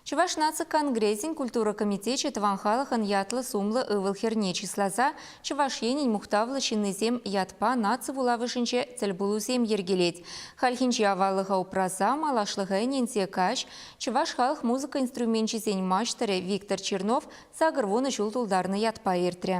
Чӑваш наци конгресӗн культура комитечӗ тӑван халӑхӑн ятлӑ-сумлӑ ывӑл-хӗрне чысласа Чӑваш Енӗн мухтавлӑ ҫыннисем ятпа наци вулавӑшӗнче тӗлпулусем йӗркелет. Хальхинче аваллӑха упраса, малашлӑха ӗненсе каҫ чӑваш халӑх музыка инструменчӗсен маҫтӑрӗ Виктор Чернов сакӑр вунӑ ҫул тултарнӑ ятпа иртрӗ.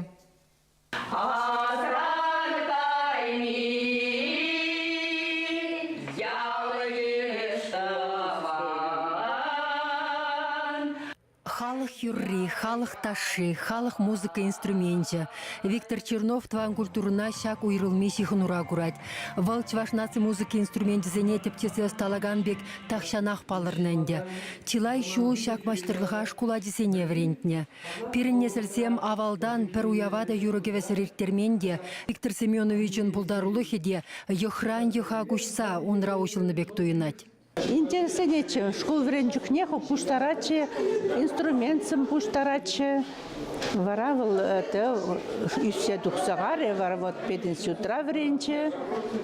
Халӑх юрри, халӑх ташши, халӑх музыка инструменчӗ. Виктор Чернов тӑван культурӑна ҫак уйрӑлми ҫыхӑнура курать. Вӑл чӑваш наци музыки инструменчӗсене тӗпчесе ӑсталакан пек тахҫанах палӑрнӑ ӗнтӗ. Чылай ҫул ҫак маҫтӑрлӑха шкул ачисене вӗрентнӗ. Пирӗн несӗлсем авалтан пӗр уява та юрӑ-кӗвӗсӗр ирттермен те. Виктор Семеновичӑн пултарулӑхӗ те йӑхран йӑха куҫса унра уҫӑлнӑ пек туйӑнать. Интересленетчӗ, шкул вӗрен чухнех пуҫтаратчӗ, инструментсем пуҫтаратчӗ. Вара вӑл ӳссе тухса карӗ, вара вот пединститутра вӗренчӗ.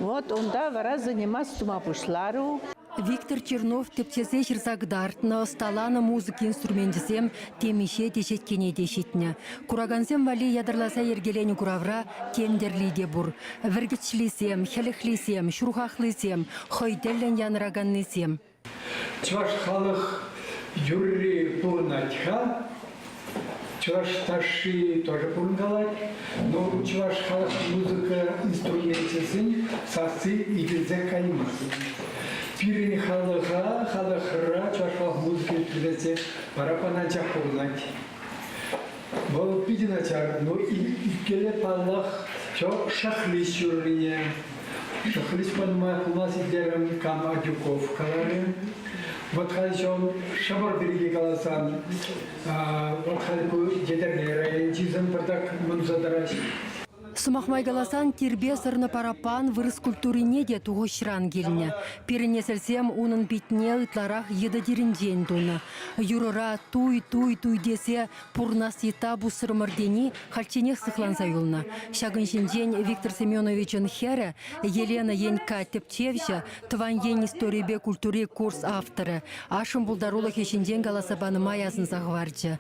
Вот унта вара заниматься тума пуҫларӗ. Виктор Чернов тӗпчесе ҫырса кӑтартнӑ, ӑсталанӑ музыка инструменчӗсем темиҫе теҫеткене те ҫитнӗ. Куракансем валли ятарласа йӗркеленӗ куравра тем тӗрли те пур. Вӗркӗчлисем, хӗлӗхлисем, ҫурхахлисем, хӑй тӗллӗн янӑраканнисем. Чӑваш халӑх юрри пурӑнать-ха. Чӑваш ташши тоже пурӑнкалать. Но чӑваш халӑх музыка инструменчӗсен сасси илтӗнсе каймасть. Пирӗн халӑха, халӑхра чӑваш халӑх музыки ӳкерсе парапан анчах пурӑнать. Вӑл питӗ начар, но иккӗллӗ паллах, чо шахлист ҫуррине, Хресманма пула ситлерӗм, кам Адюков каларӗ. Вӑт халь ҫав шӑпӑр пирки каласан, вӑт халь ку Етӗрне районӗнчисем пӗртак мӑнса тӑраҫҫӗ. Сӑмах май каласан, тирпе сӑрнӑ параппан вырӑс культурине те тухӑҫран килнӗ. Пирӗн несӗлсем унӑн питне ытларах йытӑ тирӗнчен тунӑ. Юрӑра туй-туй-туй тесе Пурӑнас йытта пусрӑмӑр тени хальчченех сыхланса юлнӑ. Ҫакӑн ҫинчен Виктор Семеновичӑн хӗрӗ, Елена Енькка тӗпчевҫӗ, тӑван ен историйӗпе культури курс авторӗ, ашшӗн пултарулӑхӗ ҫинчен каласа панӑ май асӑнса хӑварчӗ.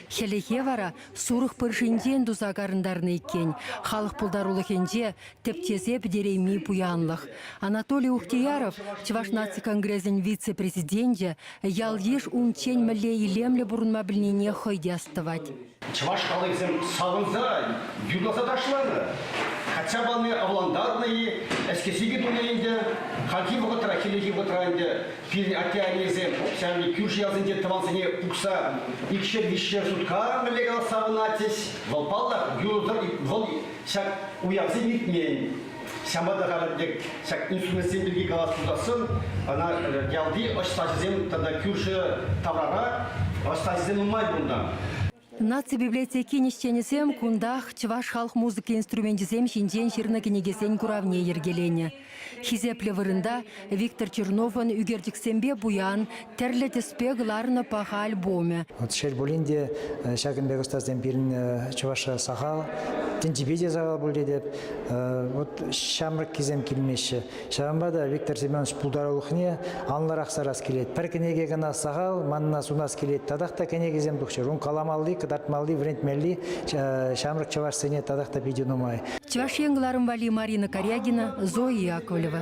Хӗлӗхе вара сурӑх пыршинчен туса карӑнтарнӑ иккен, халӑх пултарулӑхӗнче тӗп тесе пӗтерейми пуянлӑх. Анатолий Ухтияров, Чӑваш наци конгресӗн вице-президенчӗ, ял-йыш унччен мӗнле илемлӗ пурӑнма пӗлнине хӑй те астӑвать. Чӑваш халӑхӗсем савӑнса, юрласа ташланӑ. Качча пани авлантарнӑ-и, ӗҫкӗ-ҫикӗ тунӑ ӗнтӗ. Хальхи вӑхӑтра хӗллехи вӑхӑтра ӗнтӗ пирӗн атте-аннесем укҫа-тенкӗ кӳршӗ ялсенче тӑвансене пухса икшер-виҫшер сутка мӗнле калас савӑнатчӗҫ. Вӑл паллах, юрӑ-тӑр, вӑл Ҫак уявсем иртмен. Ҫавӑнпа та халӗ тек ҫак инструментсем пирки калас пулсассӑн, ӑна ялти ӑстаҫӑсем тата кӳршӗ таврара ӑстаҫӑсем нумай пулнӑ. Наци библиотекин ӗҫченӗсем кунтах чӑваш халӑх музыки инструменчӗсем ҫинчен ҫырнӑ кӗнекесен куравне йӗркеленӗ. Хисеплӗ вырӑнта Виктор Черновӑн ӳкерчӗксемпе пуян тӗрлӗ тӗспе кӑларнӑ паха альбомӗ. Шел пулин те, ҫакӑн пек ӑстасем пирӗн чӑваш сахал. Тӗнчипе те сахал пуль тетӗп. Вот ҫамрӑккисем килмеҫҫӗ. Ҫавӑнпа та Виктор Семенович пултарулӑхне анлӑрах сарас килет. Пӗр кӗнеке кӑна сахал, манна сунас килет. Татах та кӗнекесем тухчӑр. Ун каламалли, кӑтартмалли, вӗрентмелли ҫамрӑк чӑвашсене татах та питӗ нумай. Чӑваш Ен кӑларӑм валли Марина Карягина, Зоя Яковлева.